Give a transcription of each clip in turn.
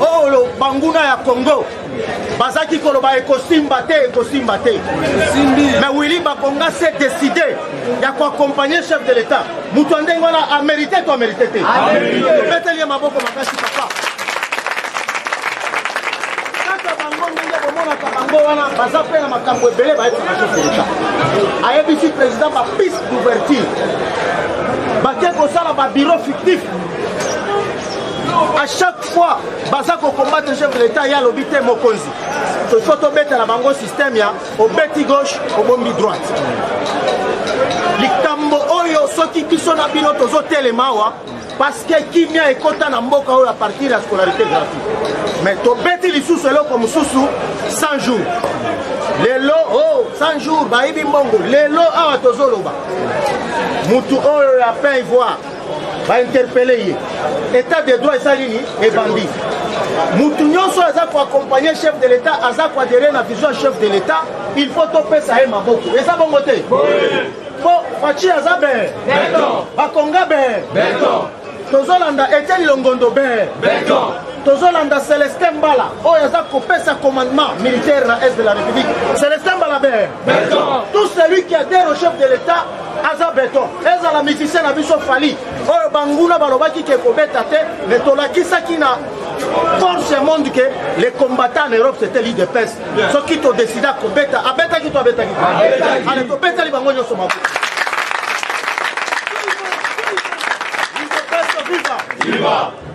oyo oh, banguna ya congo bazalaki koloba ekosimba te ekosimba te mais willi bakonga se décide ya koaccompagne chef de l'état moto ya ndenge wana amérite to amérite te tobeteli ye maboko makasi papa kaka bango ndenge bomonaka bango wana baza mpe na makambo ebele bayebisaka chef de l'état ayebisi président bapiste d'ouverture bake kosala babiro fictif à chaque fois baza kokombatre chef de l'état ye alobi te mokonzi ifo tobetela bango système ya obeti gauche obombi droite likambo oyo soki biso na bino tozotelema awa parce que kimia ekota na mboka oyo a partir ya scolarité gratuite mais tobeti lisusu eloko mosusu 100 jours lelo o oh, 100 jours bayibi mbongo lelo awa tozoloba motu oyo ya pain ivoire ba interpelle ye état de droit eza nini ebandi mutu nyonso aza koaccompagne chef de l'état aza koadere na vision chef de l'état il faut topesa ye maboko eza bongo te po faci aza bee bakonga bee tozolanda etieni longondo bee tozolanda celestin mbala oyo aza kopesa commandement militaire na est de la république celestin mbala bee tout celui qui adhère au chef de l'état aza beton ezala musicien na biso fali oyo banguna balobaki ke kobeta te me tolakisaki na force ya monde ke les combattants en europe c'était lide pes soki todesida kobeta abetaki to abetaki ale tobetali bango nyonso mabo Viva!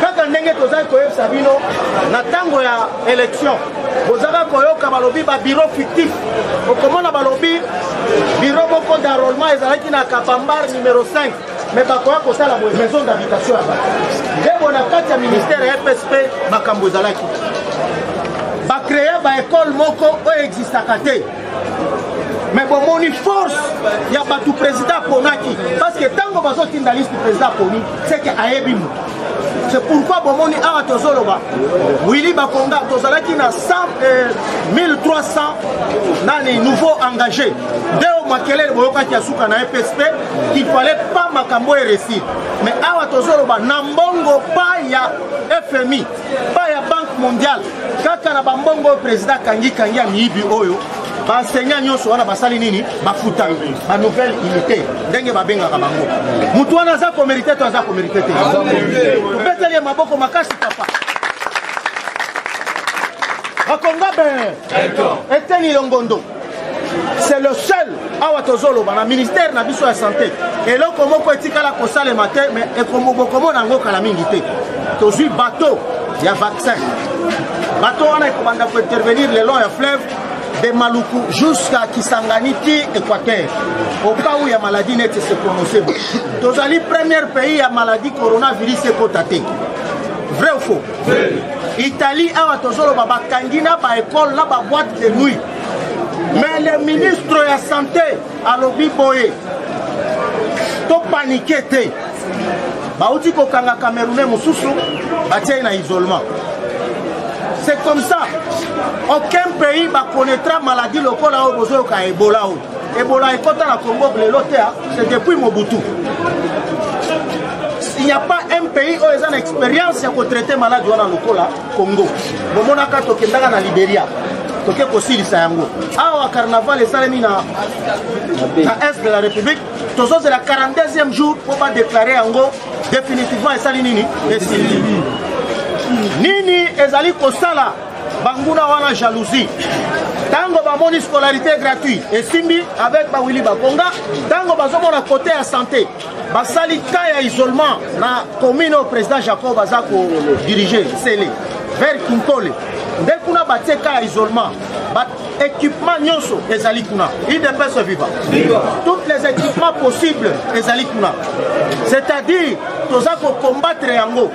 kaka ndenge tozali koyebisa bino na ntango ya élection bozalaka koyoka balobi babiro fictif okomona balobi biro moko d'enrôlement ezalaki na kapambar numero 5 me bakoya kosala boye maison d'habitation ya bato ndebo na kati ya ministère ya fsp makambo ezalaki bacrea baekole moko oyo existaka te me bomoni force ya bato président aponaki parce que ntango bazotinda liste président aponi seke ayebi moto c'est pourquoi bomoni awa tozoloba wili bakonga tozalaki na 100, euh, 1300 nani nouveau engagé deo makelele boyokaki ya suka na epsp qu'il fallait pas makambo eresi mais awa tozoloba na mbongo pa ya fmi epai ya banque mondiale kaka na bambongo oyo président kangi kangi ya miyibi oyo baenseignant nyonso wana basali nini bafuta banouvelle unité ndenge babengaka bango motu wana aza komerite to aza komerite te tobeteli ye maboko makasi papa bakonga ben eteni longondo c'est le seul awa tozoloba na ministère na biso ya santé eloko moko etikala kosalema te mais bokomona yango kala mingi te tozwi bateau ya vaccin bateau wana ekobanda kointervenir le long ya fleuve de maluku jusqu'à kisangani ti équateur au cas où ya maladie neti se prononce tozali premier pays ya maladie coronavirus ekota te vrai ou faux Italie awa tozoloba bakangi na ba école na ba boîte de nuit mais le ministre ya santé alobi boye topanike te bauti kokanga camerounais mosusu batie na isolement c'est comme ça aucun pays bakonaîtra maladie lokola oyo bozoyoka ebola oyo Ebola ekota na Congo lelo te, ah. c'est depuis Mobutu. Il n'y a pas un pays oyo eza na expérience ya kotraite maladi wana lokola Congo. Bomonaka tokendaka na Liberia toke kosilisa yango awa carnaval esalemi na est de la république tozozela 42e jour mpo badeklare yango définitivement esali nini esili nini ezali kosala banguna wana jalousie ntango bamoni scolarité gratuit esimbi avec bawili bakonga ntango bazomona kote ya santé basali ka ya isolement na commune oyo président jacob aza kodirige sele vers kinkole nde kuna batie ka ya isolement équipement nyonso ezali kuna idps viva toutes les équipements possibles ezali kuna c'est-à-dire toza kocombattre yango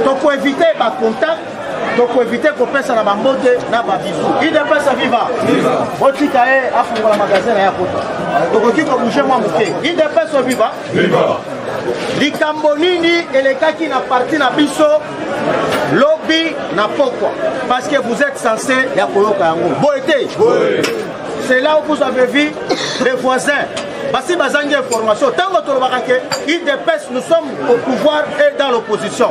tokoevite bacontact tokoevite kopesa na bambote na babizu idps viva botika ye afungola magasin na ye akota tokoki kobouge mwa moke idps viva likambo nini elekaki na parti na biso lobi na pokwa parce que vous êtes censé ya koyoka yango boye te c'est là où vous avez vu les voisins basi bazangi information ntango tolobaka ke idps nous sommes au pouvoir et dans l'opposition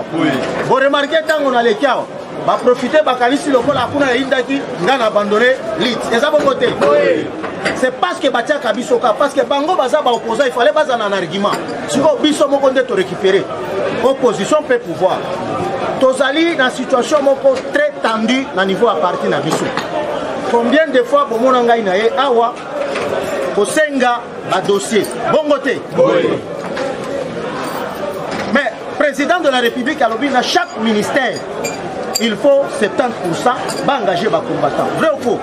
boremarke ntango naleki awa baprofite bakanisi lokola kuna yayindaki ngai na abandone lit eza bongo te c'est parce que batiaka biso ka parce que bango baza baopposant il fallait bazala na argument sikoyo biso moko nde torécupere opposition mpe pouvoir tozali na situation moko très tendue na niveau ya parti na biso combien de fois bomona ngai na ye awa kosenga badossier bongo te mais président de la république alobi na chaque ministère il faut 70% baengage bacombattant vrai ou faux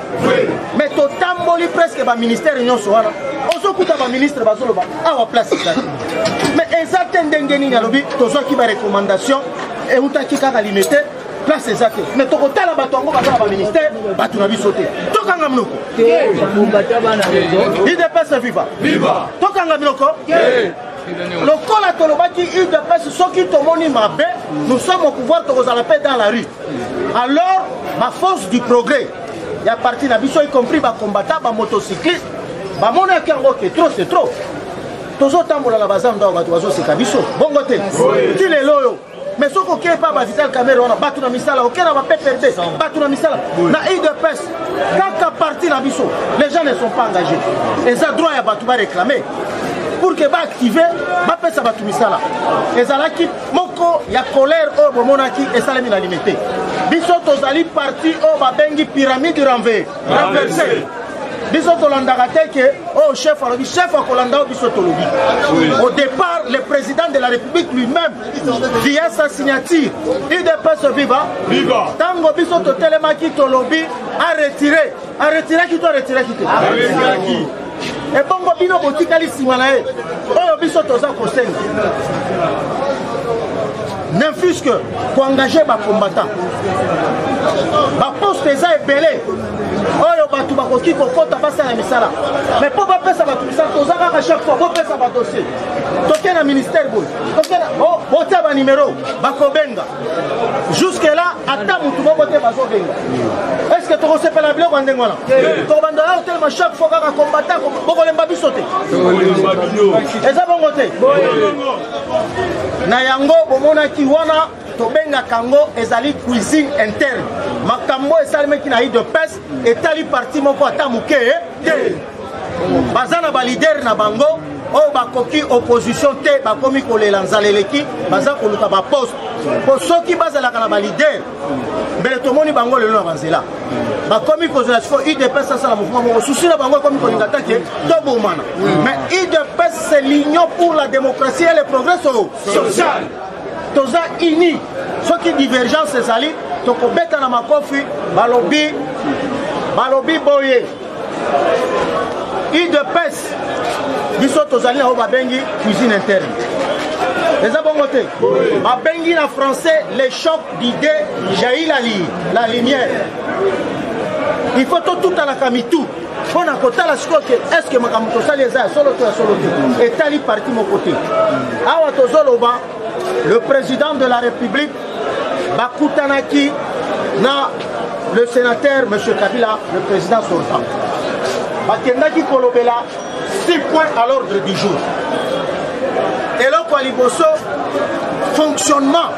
mais totamboli presque baministère nyonso wana ozokuta baministre bazoloba awa place ezali mais eza te ndenge nini alobi tozwaki barecommandation eutaki kaka limete place eza te mais tokotala bato yango baza na baministère bato na biso te tokanga minoko idps viva tokanga minoko lokola tolobaki udps soki tomoni mabe nous sommes au pouvoir tokozala mpe dans la rue alors baforce du progrès ya parti na biso y compris bacombatant bamotocycliste bamonaki yango ke trop c'est trop tozotambola na bazando awa bato bazoseka biso bongo te ti lelo oyo mais soki okei mpa bavital camere wana bato na misala okei na bappd bato na misala na udps kaka parti na biso les gens ne sont pas engagés eza droit ya bato baréclame pour que baactive bapesa bato misala ezalaki moko ya colère oyo bomonaki esalemi na limete biso tozali parti oyo babengi pyramide renve renverse biso tolandaka te ke oyo oh, chef alobi chef akolanda oyo biso tolobi au départ le président de la république lui-même via sa signature udps viva ntango biso totelemaki tolobi aretire aretiraki to aretiraki te ebongo bino botikali nsima na ye oyo biso toza kosenga ne fus que koengage bacombattant baposte eza ebele oyo bato bakoki kokɔta basala misala mais mpo bapesa bato misala toza kaka chaque fois bopesa badossier toke na ministère boye botia banimero bakobenga jusque là ata motu moko te bazobenga est ce que tokosepela biloko ya ndenge wana tokobanda ya kotelema chaque fois kaka kombata bokolemba biso te eza bongo te na yango bomonaki wana tobengaka yango ezali cuisine interne makambo esalemaki na idepes etali parti moko ata moke te baza na balidere na bango oyo bakoki opposition te bakomi kolela nzala eleki baza koluka baposte mpo soki bazalaka na balidere mbele tomoni bango lelo na banzela bakomi kozela siko udps asala mouvement moko susi na bango ekomi kolinga ta ke tobomana mais udps c'est l'union pour la démocratie et le progrès social toza uni soki divergence ezali tokobeta na makofi balobi balobi boye udps biso tozali na oyo babengi cuisine interne eza bongo te babengi na français le choc d'idée jaillit la, li, la lumière il faut totutanaka mitu mpo na kotala sikoyo ke estce makambo tosali eza ya solo to ya solo te etali parti moko te awa tozoloba le président de la république bakutanaki na le sénateur m kabila le président sortant bakendaki kolobela six points à l'ordre du jour eloko ya liboso fonctionnement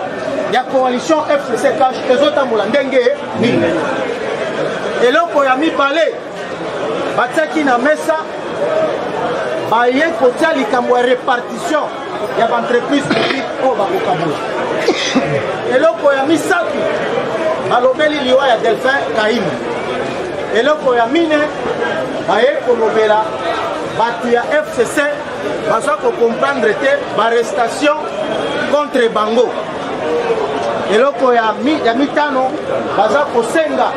ya coalition fcc cash ezotambola ndenge nini eloko ya mibale batiaki na mesa baye kotia likambo ya répartition ya baentreprise publique oyo bakokabola eloko ya misato balobeli liwa ya delphin kaimi eloko ya mine baye kolobela bato ya fcc baza kocomprendre te barestation contre bango eloko ya, mi, ya mitano baza kosenga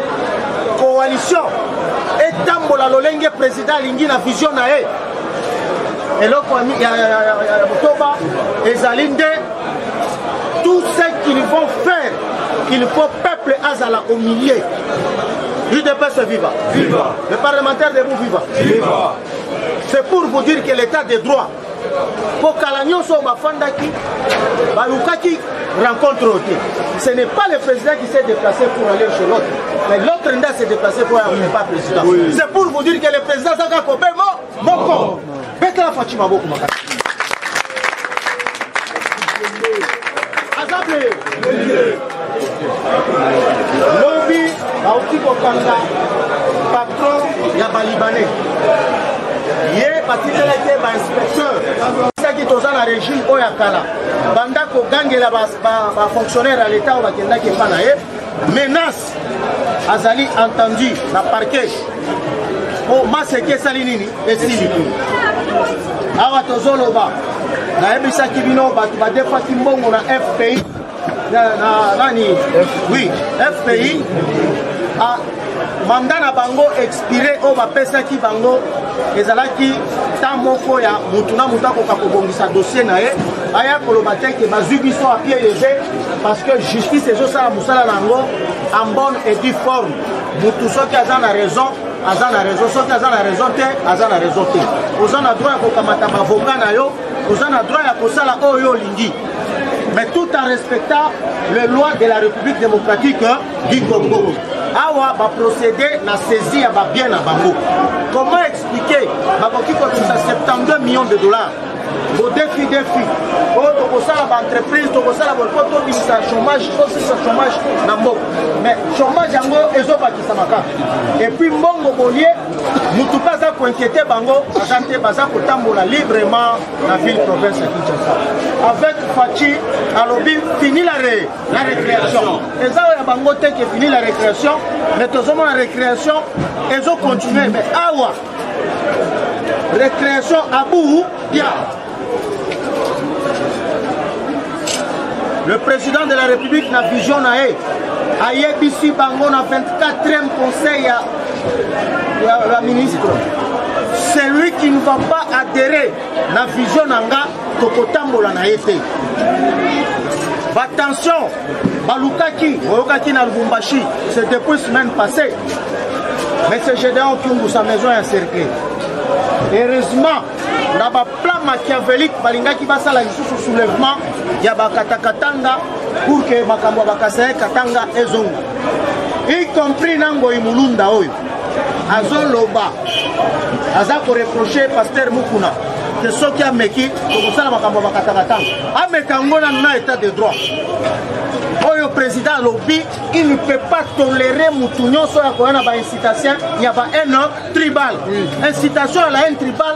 coalition etambola lolenge président alingi na vision na ye eloko ya motoba ezali nde tout ce qu'ils vont faire il faut peuple azala au milieu udps viva viva le parlementaire debout viva viva c'est pour vous dire que l'état de droit kokala nyonso oyo bafandaki balukaki rencontre oyo te ce n'est pas le président qui s'est déplacé pour aller chez l'autre mais l'autre nde s'est déplacé pour aller pas président c'est pour vous dire que le président azaka kobe mo moko betela faci maboko makasi aza ble lobi bauti kokanga patron ya balibanais ye batikelaki ye bainspecteur soki toza na régime oyo ya kala banda kogangela bafonctionnaire ya leta oyo bakendaki epa na ye menace azali entendu na parquet mpo maseke esali nini esili awa tozoloba nayebisaki bino bato badefaki mbongo na fpi na, na nani oui fpi a manda na bango expire oyo bapesaki bango ezalaki ta moko ya motu na motu akoka kobongisa dossier na ye aya koloba te ke bazwi biso apie lege parce que justice ezosala mosala na yango en bonne et due forme motu soki aza na raison aza na raison soki aza na raison te aza na raison te oza na droit ya kokamata bavoka na yo oza na droit ya kosala oyo olingi mais tout en respectant les lois de la république démocratique Guy Congo awa baprocédé na saisie ya babien na bango comment expliquer bakoki kotisa 72 millions de dollars bodefi defi oyo tokosala baentreprise tokosala po tobimisa chômage tosisa chômage na mboka mais chômage yango ezobakisama kaka epuis mbongo bolie motu mpe aza koinquiete bango aza te baza kotambola librement na ville province ya kinshasa avec faci alobi finilare la récréation eza oyo ya bango te ke fini la récréation mais tozomona récréation ezo continue mais awa récréation abou dia le président de la république na vision na ye ayebisi bango na 24e conseil ya, ya, ya ministre celui qui ne va pas adhérer na vision na nga tokotambola na ye te batension balukaki oyokaki na lubumbashi c'est depuis semaine passée mais c'est gédéon kiungu sa maison ya cercle heureusement na baplan machiavelique balingaki basala lisusu soulèvement ya bakatakatanga pour que makambo ya bakasaye katanga ezonga y compris na ngoi mulunda oyo azoloba aza koreproche paster mukuna te soki ameki tokosala makambo ya bakatakatanga ameka yango nanu na état de droit oyo président alobi il ne peut pas tolérer motu nyonso oyo akoya na baincitation ya ba haine tribal incitation ya la haine tribal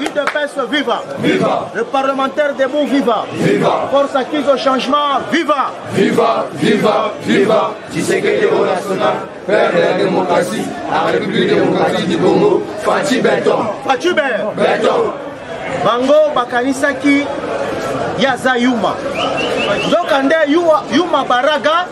UDPS viva. Viva. Le parlementaire debout viva. Viva. Force acquise au changement viva. Viva, viva, viva. Tshisekedi au national, père de la démocratie, la République démocratique du Congo, Fatih Beton. Fatih Beton. Beton. Bango bakanisaki ya aza yuma nzoka nde yuma baraga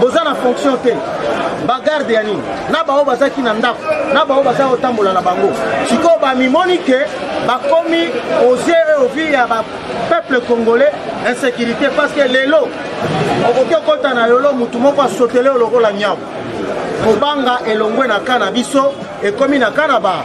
boza na fonction te bagarde ya nini na bango bazalaki na ndako na bango bazali kotambola na bango sikoyo bamimoni ke bakomi oze ovi ya bapeuple congolais insécurité parce que lelo okoki okota na yolo motu moko asotele yo lokola nyau kobanga elongwe na ka na biso ekomi na ka na ba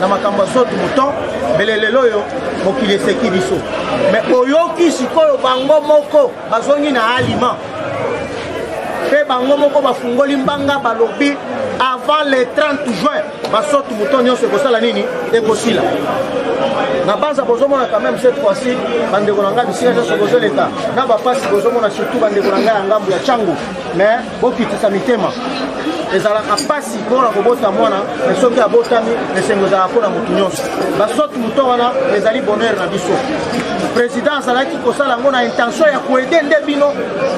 na makambo ya sotu moto mbele lelo oyo mokili eseki biso me oyoki sikoyo bango moko bazongi na alima mpe bango moko bafungoli mbanga balobi avant le 30 juin basotu moto nyonso ekosala nini ekosila na banza bozomona quand même cette fois-ci bandeko na ngai bisika nyonso bozoleka na bapasi bozomona surtout bandeko na ngai ya ngambo ya cango mais bokitisa mitema ezalaka mpasi mpona kobota mwana me soki abotami esengo ezalaka mpo na moto nyonso basoki moto wana ezali bonheur na biso président azalaki kosala yango na intention ya koede nde bino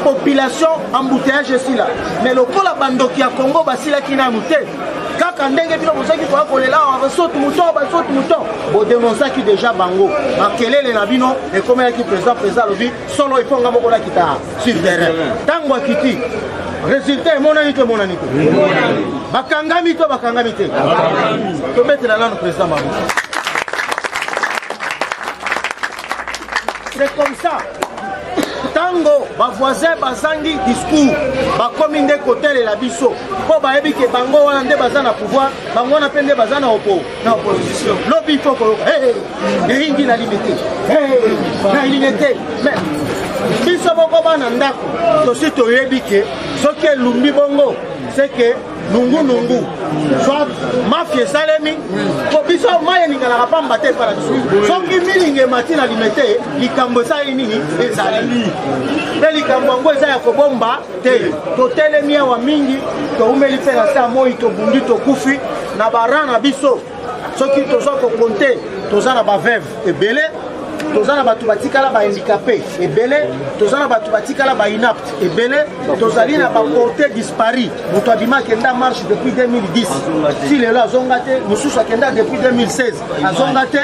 population embouteillage esila mais lokola bandoki ya congo basilaki nanu te kaka ndenge bino bozalaki koya kolela awa basotu moton basotu moton bodenonsaki deja bango makelele na bino ekomelaki président président alobi solo efonga moko nakita sur terrain ntango akiti résultat emonani to emonani te bakangami to bakangami te tobetela nano président mabo c'est comme ça ntango bavoisin bazangi discours bakomi nde kotalela biso mpo bayebi ke bango wana nde baza na pouvoir bango wana mpe nde baza na opo na opposition lobi il faut koyoka eyingi na limite na limite mais biso moko bana ndako tosi toyebi ke soki elumbi bongo seke nungunungu soit mafia esalemi po biso mai elinganaka pamba te epai na biso soki milingi emati na limete likambo esali nini ezali mpe likambo yango eza ya kobomba te totelemi awa mingi toumeli mpe na se ya moi tobundi tokufi na bara na biso soki toza kokonte toza na baveve ebele toza na bato batikala bahandikape ebele toza na bato batikala bainapte ebele tozali na baporte dispari moto abima akenda marche depuis 2010 ti lelo azonga te mosusu akenda depuis 2016 azonga te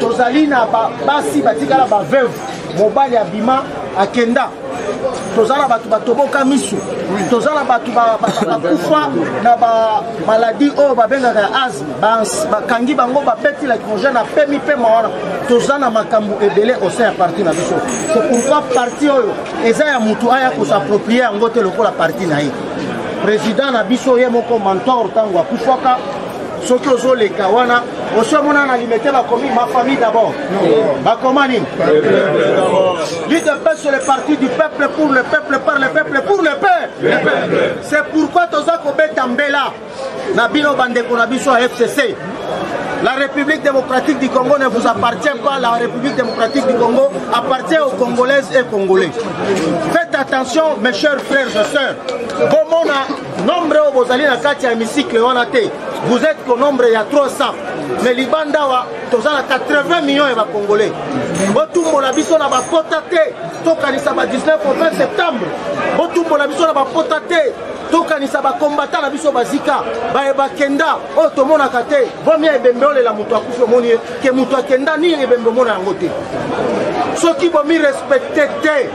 tozali na basi batikala ba veuve mobali abima akenda toza na bato batoboka miso toza na bato bakufa na bamaladi oyo babengaka ya asme bakangi bango babeti lacrogène na pemi pema wana toza na makambo ebele osa ya parti na biso se pourkoi parti oyo eza ya motu aya kosapproprie yango te lokola parti na ye président na biso ye moko mentor ntango akufaka soki ozoleka wana osi omona na limete bakomi ma famille d'abord bakoma nini lidepes sur le parti du peuple pour le peuple par le peuple pour le peuple c'est pourquoi toza kobeta mbela na bino bandeko na biso ya fcc La République démocratique du Congo ne vous appartient pas. La République démocratique du Congo appartient aux Congolaises et Congolais. Faites attention, mes chers frères et sœurs. nombre oyo bozali na kati ya hémicycle wana te vous êtes ko nombre ya 300 mais libanda awa toza na 80 millions ya bacongolais botumbola biso na bapota te tokanisa ba 19 au 20 septembre botumbola biso na bapota te tokanisa bakombata na biso bazika baye bakenda oyo tomonaka te bomia ebembe olela moto akufi omoni ye ke moto akenda nini ebembe omona yango te soki bomi respecte te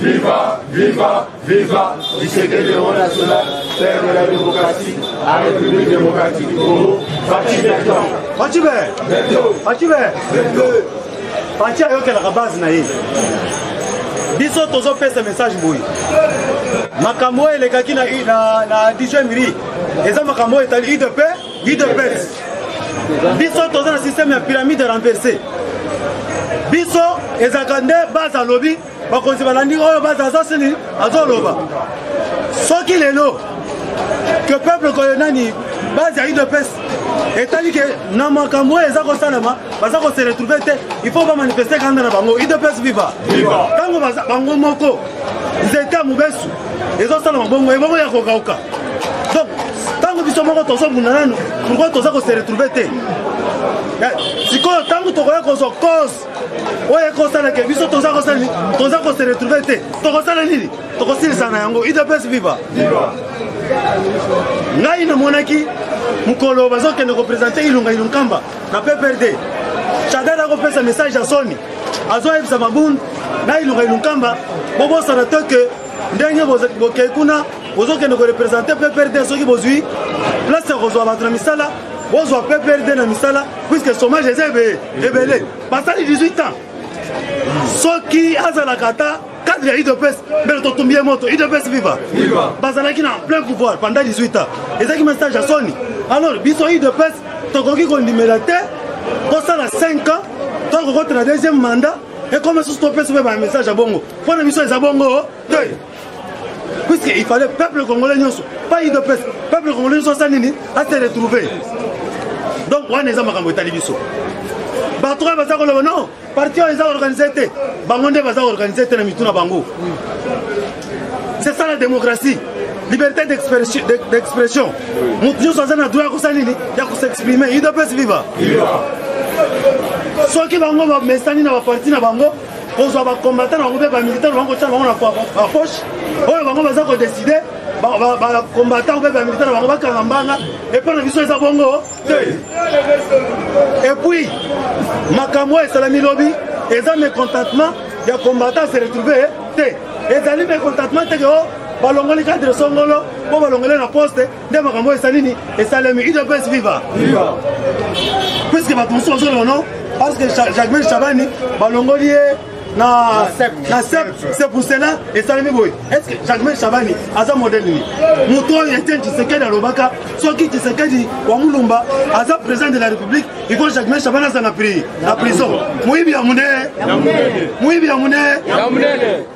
Viva, viva, viva, Tshisekedi Euro National, Père de la démocratie, la République démocratique du Congo, Fatih Beton. Fatih Beton. Fatih Beton. Fatih ayokelaka base na ye. biso tozopesa message boye makambo oyo elekaki na, na, na digemiri eza makambo oyo etali udp udps biso toza na systeme ya pyramide renverse biso ezalaka nde base alobi bakonzi balandi oyo baza azosili azoloba soki lelo ke peuple koyo nani base ya udps etali ke na makambo oyo eza kosalama baza kose retrouve te il faut bamanifeste kanda na bango udps viva ntango bango moko nzete ya mobesu ezosalama bongo ebongo ya kokauka donc ntango biso moko tozobunda nanu pourkoi toza kose retrouve te sikoyo ntango tokoya kozwa cause oyo ekosala ke biso toza kosala nini toza kose retrouve te tokosala nini tokosilisa na yango idps viva ngai namonaki mokolo bazokende kopresente ilunga ilunkamba na pprd chadar akopesa message ya soni azoyebisa mabund na ilunga ilunkamba bobosana te ke ndenge bokei kuna bozokende korepresente pprd soki bozwi place ya kozwa bato na misala bozwa pprd na misala puiske chômage eza ebele ebele basali 18 ans soki azalaka ata cadre ya udps mbele totumbi ye moto udps viva bazalaki na plein pouvoir pendant 18 ans ezalaki message ya soni alors biso udps tokoki kondimela te kosala 5 ans to kokotela deuxième mandat ekoma susu topesa mpe bamessage ya bongo mpo na biso eza bongo te puisque il fallait peuple congolais nyonso pas udps peuple congolais nyonso asa nini ase retrouve donc wana eza makambo etali biso bato oyo baza koloba non parti oyo eza organise te bango nde baza organise te na mitu na bango c'est ça la démocratie liberté d'expression moto nyonso aza na droit ya kosala nini ya kosexprime udps viva soki bango bamesani na baparti na bango kozwa bacombatant bango mpe bamilitare bango kotya bango na bapoche oyo bango baza kodeside bacombatant mpe bamilitare bango bakanga mbanga epai na biso eza bongo te epuis makambo oyo esalami lobi eza mécontentement ya combatant se retrouve te ezali mécontentement teke o oh, balongoli cadre songolo mpo balongoli na poste nde makambo oyo esa nini esalemi udps viva puiske bato mosusu bazoloba no parce que jacmel chabani balongoli ye na sep c'est pour cela esalemi boye estce jacmel chabani aza modele nini moto oyo etienne tshisekedi alobaka soki tshisekedi wa mulumba aza président de la république iko jacmel chabani aza na prison moyibi ya monene moyibi ya monene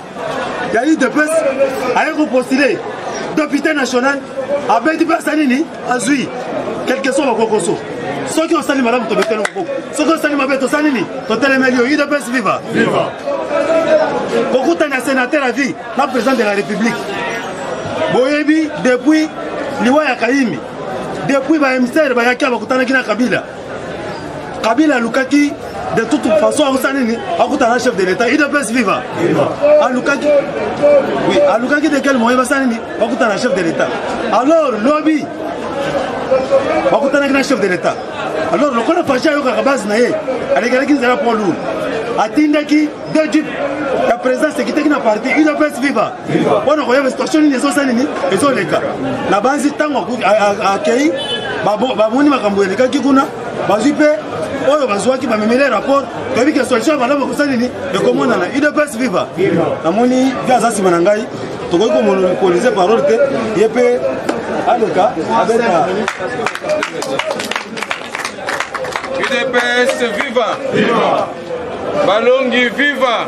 ya udps aye kopostile depute national abeti mpe asali nini azwi quelque soit bakokoso soki osali malamu tobeteli maboko soki osali mabe tosali nini totelemeli yo udps viva kokutana ya sénateur ya vie na président de la république boyebi depuis liwa ya kayimi depuis baemissaire bayaki awa bakutanaki na kabila kabila alukaki de toute façon akosala nini akutana chef de l'état idps viva alukaki oui alukaki de quel moyen basala nini bakutana chef de l'état alors lobi bakutanaki na chef de l'état alors lokola fashi ayokaka base na ye alekelaki nzela poids lourd atindaki deux jeep ya présidence ekitaki na parti udps viva mpona koyeba situation nini ezosa nini ezoleka na banzi ntango akei bamoni makambo elekaki kuna bazwi mpe oyo bazwaki bamemeli rapport toyebi ke solution ya malamu ekosali nini ekomonana udps viva namoni vi aza nsima na ngai tokoki komonopolize parole te ye mpe aleka abeta udps viva balongi viva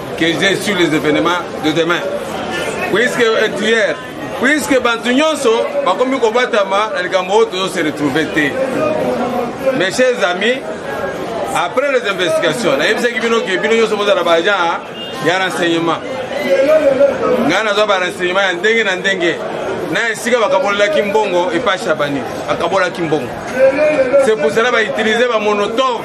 que j'ai sur les événements de demain. Puisque euh, hier, puisque bantu nyonso bakomi kobatama na likambo oyo tozo se retrouver te. Mes chers amis, après les investigations, nayebisaki bino ke bino nyonso bozala baagent ya renseignement. Ngai nazwa ba renseignement ya ndenge na ndenge na esika bakabolelaki mbongo epai shabani akabolaki mbongo c'est pour cela bautilize bamonotove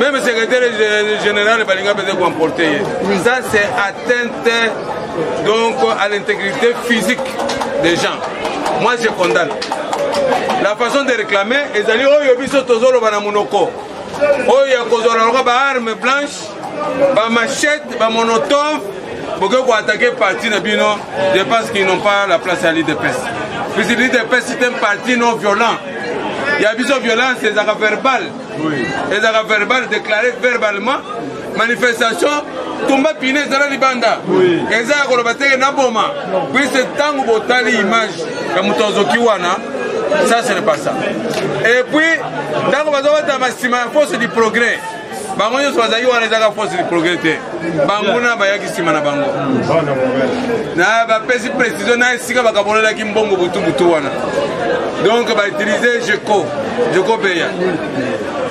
Meme secrétaire général balinga pete koemporte ye. Ça c'est atteinte donc à l'intégrité physique des gens. Moi je condamne. La façon de réclamer ezali oyo biso tozoloba na monoko oyo ya kozwa na loka baarme blanche bamachete bamonotove bokoki koatake parti na bino de parce qu'ils n'ont pas la place ya lidepes puisque lidepes c'est un parti non violent ya biso violence ezalaka verbale ezalaka verbal déclaré verbalement manifestation tumba pine ezala libanda eza ya koloba teke naboma puise ntango botali image ya moto azoki wana ça ce n'est pas ça et puis ntango bazobata masima ya force du progrès bango nyonso bazalaki wana ezaka force du progrès te bango na bayaki nsima na bango na bapesi précision na esika bakabolelaki mbongo butubutu wana donc bautilize jeco jeco beya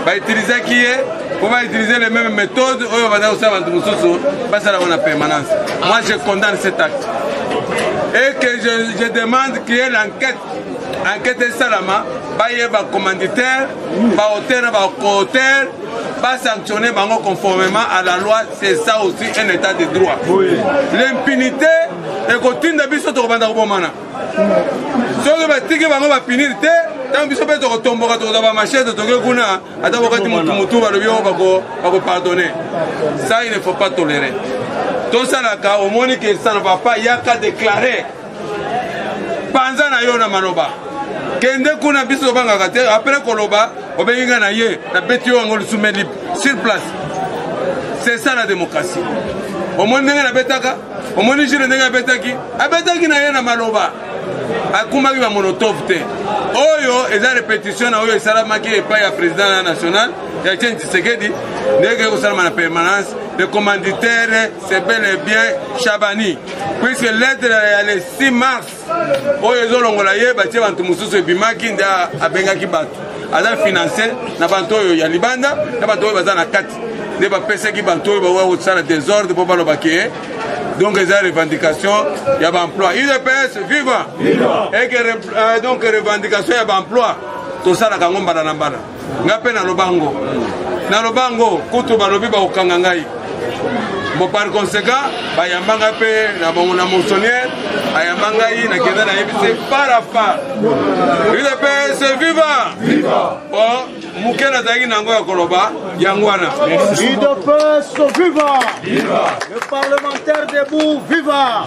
bautilisaki ye mpo bautilize le même méthode oyo baza kosala bato mosusu basala yango na permanence moi je condamne cet acte et que je, je demande qu'il y ait l'enquête enquête esalama bayeba commanditaire bahotel na bahotel ba sanctionner bango conformément à la loi c'est ça aussi un état de droit oui. l'impunité ekotinda biso tokobanda kobomana soki batiki bango bapinir te ntango biso mpe tokotomboka tokozwa bamachete toke kuna ata bokati motu motu balobi oyo bakopardonne ça il ne faut pas tolérer tosalaka omoni que ça ne va pas yaka déclarer panza na yo na maloba kende kuna biso tobangaka te apres koloba obengi ngai na ye nabeti yo yango lisume libre sur place c'est ça la démocratie omoni ndenge nabetaka omoni jile ndenge abetaki abetaki na ye na maloba akumaki bamonotove te oyo eza repetition na oyo esalamaki epai ya président ya national ya etienne tshisekedi ndenge ekosalama na permanence le commanditaire c'est bel et bien chabani puiske lettre ya le 6 mars oyo ezolongola ye batie bato mosusu ebimaki nde abengaki bato aza finanse na bato oyo ya libanda na bato oyo baza na kati nde bapesaki bato oyo bakoya kosala desordre mpo baloba ke donc eza revendication ya baemploi udps viva eke euh, donc revendication ya baemploi tosalaka yango mbala na mbala nga mpe naloba ngo naloba ngo kutu balobi bakokanga ngai bon par conséquent bayamba ngai mpe na bango na monsonniere ayamba ngai nakenda nayebisi fara far udps viva bon moke nazalaki na yango ya koloba yango wana udps viva le parlementaire debout viva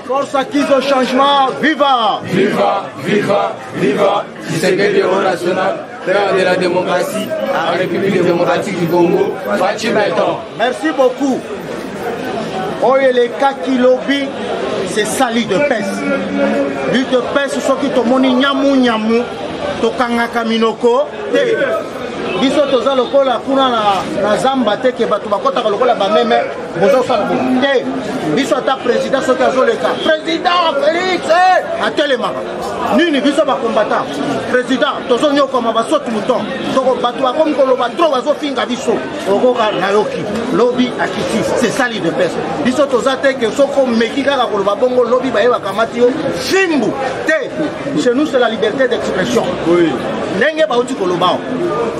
force acquise au changement viva viva viva viva Tshisekedi au national, père de la démocratie, à la République démocratique du Congo, Fatshi Beton. Merci beaucoup. oyo elekaki lobi c'est ça lit de pes lit de pes soki tomoni nyamu nyamu tokangaka minoko te biso toza lokola kuna na, na zamba te ke bato bakɔtaka lokola bameme boza kosala bo te biso ata président soki azoleka président félix eh, atelemaka nini biso bakombata président tozonyokwama basoti moton toko bato bakomi koloba tro bazofinga biso okoka nayoki lobi akiti sesali de pese biso toza te ke soki omeki kaka koloba bongo lobi baye bakamati yo fimbu te chez nous c'est la liberté d'expression oui. ndenge bauti kolobao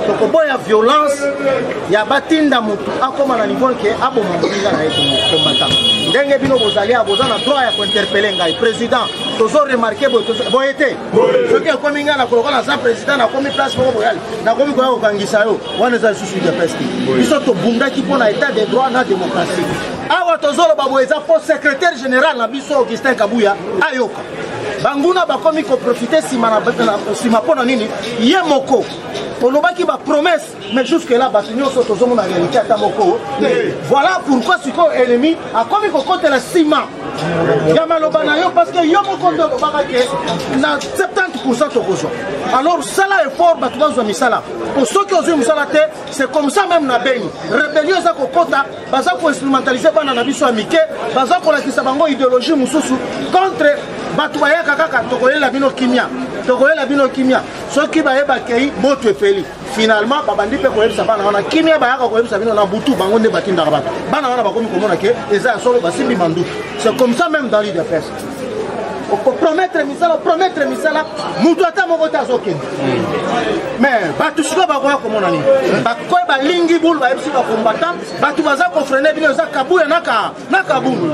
tokoboya violence ya batinda motu akóma na niveau ke aboma moninga na ye kombata ndenge bino bozali ya boza na droit ya kointerpele ngai président tozo remarke boye te soki ekomi ngai nakoloka naza président nakomi place moko boyali nakomi koya kokangisa yo wana eza lisusu udps te biso tobundaki mpo na état de droit na démocratie awa tozoloba boye eza mpo secrétaire général na biso augustin kabuya ayoka banguna bakomi koprofite nsima mpo na nini ye moko olobaki bapromese mais jusque là bato nyonso tozomona réalité ata moko te voilà pourquoi sikoyo ennemi akomi kokotela nsima ya maloba na yo parce que yo moko nde olobaka ke na 70 pourcent tokozwa alors sala effort bato bazwa misala po soki ozwi mosala te c'est comme ça même na beni rébellion eza kokota baza koinstrumentalise bana na biso ya mike baza kolakisa bango idéologie mosusu contre bato bayaka kaka tokoyela bino kimia tokoyela bino kimia soki baye bakei moto epeli finalement babandi mpe koyebisa bana wana kimia bayaka koyebisa bino na butu bango nde batindaka bato bana wana bakomi komona ke eza ya solo basimbi manduki c'est comme ça même dans l'ide peste okopromettre misala opromettre misala moto ata moko te azokende mais bato sikoyo bakoya komona nini bakoya balingi bulu bayebisi bakombata bato baza kofrene bino eza kabuya na ka na kabundu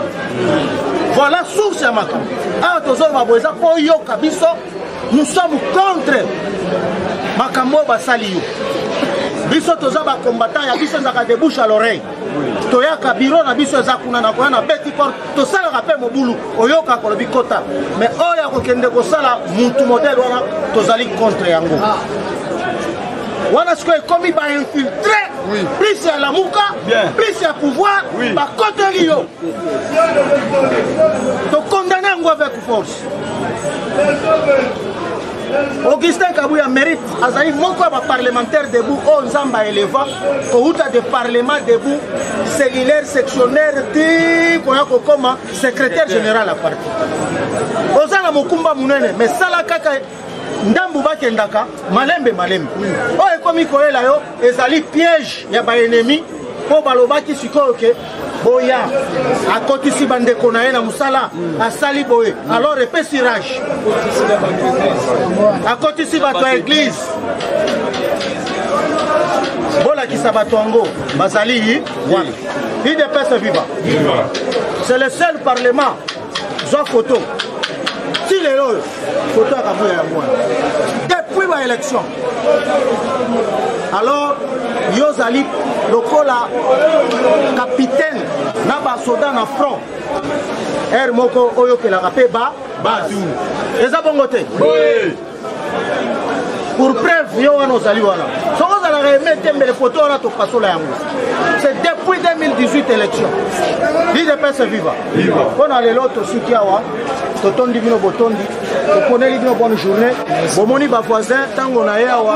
voilà source ya makambo awa tozoloba boye eza mpo oyoka biso nous sommes contre makambo oyo basali yo biso toza bacombattant ya biso ezalaka de bouche à l'oreille toyaka biro na biso eza kuna na koya na beti corps tosalaka mpe mobulu oyokaka kolobi kota mais oyo akokende kosala mutu modele wana tozali contre yango wana sikoyo ekomi bainfiltre oui. plus ya lamuka plus ya pouvoir oui. bakoteli yo tokondane yango avec force augustin kabuya mérite azali moko ya baparlementaire debout oyo oh, nzambe aeleva kouta de parlement debout cellulaire sectionnaire ti koya kokoma secrétaire général ya parti oza na mokumba monene mais sala kaka ndambu bakendaka malembe malembe oyo ekomi koyela yo ezali piège ya baennemi mpo balobaki sikoyo ke boya akotisi bandeko na ye na mosala asali boye alors epesi rage akotisi bato ya eglize bolakisa bato yango bazali wapi idps viva c'est le seul parlement zwa foto ti lelo oyo foto ya kabuya yango wana depuis ba élection alors yo ozali lokola capitaine na basoda na front heure moko oyokelaka mpe ba batu eza bongo te pour preuve yo wana ozali wana soki ozalaka eme te mbele poto wana topasola yango c'est depuis 2018 élection idps viva mpo na lelo tosuki awa totondi bino botondi toponeli bino bonne journée bomoni bavoisin ntango na ye awa